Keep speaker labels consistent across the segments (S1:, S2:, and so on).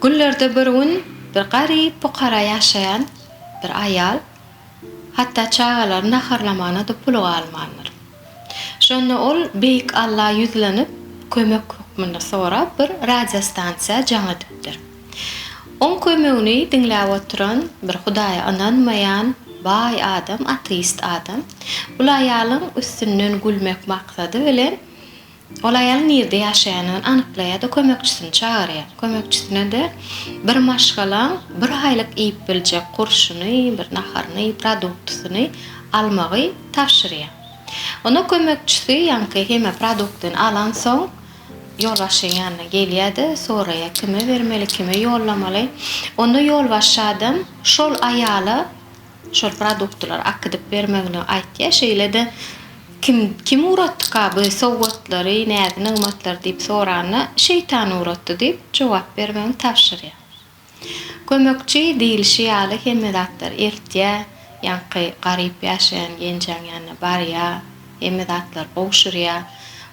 S1: Günlerde bir gün bir garyp pukara ýaşaýan bir aýal hatda çagalaryny naharlamagyna-da puly galmandyr. Şonda ol Beýik Alla ýüzlenip kömek hökmünde sorap bir radiostansiýa jaň edipdir. Oň kömegini diňläp oturan bir Hudaýa ynanmaýan baý adam ateist adam bul aýalyň üstünden gülmek maksady bilen Ol aýal nirde ýaşaýanyny anyklaýar-da kömekçisini çagyrýar. Kömekçisine-de bir maşgalaň bir aýlyk iýip biljek gurşuny, bir naharyny, produktysyny almagy tabşyrýar. Onda kömekçisi ýaňky heme produktyny alansoň, ýolbaşçyň ýanyna gelýär-de, soraýar, kime bermeli, kime ýollamaly. Onda ýolbaşçy adam şol aýala. şol produktlary akydyp bermegini aýtýar, şeýle-de Kim, kim ugratdyka bu sowgatlary, näzi-nygmatlary diýip soranda, Şeýtan ugratdy diýip, jogap bermegini tabşyrýar. Kömekçi diýlişi ýaly hemme zatlary eltýär, ýaňky garyp ýaşaýan genjäň ýanyna barýar. Hemme zatlar gowşurýa.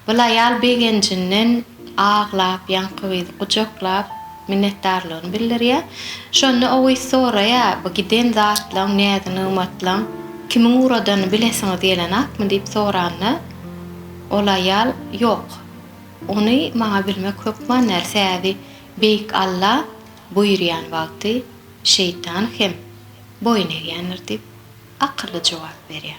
S1: Bul aýal begenjinden aglap, ýaňky gyzy gujaklap, minnetdarlygyny bildirýä. Şonda o gyz soraýa, Bu giden zatlaň, näzi-nygmatlaň kimiň ugradanyny bilesiňiz gelenakmy? diýip soranda, ol aýal, Ýok, ony maňa bilmek hökman däl, säbi Beýik Alla buýurýan wagty şeýtan hem boýun egýändir diýip, akylly jogap berýä.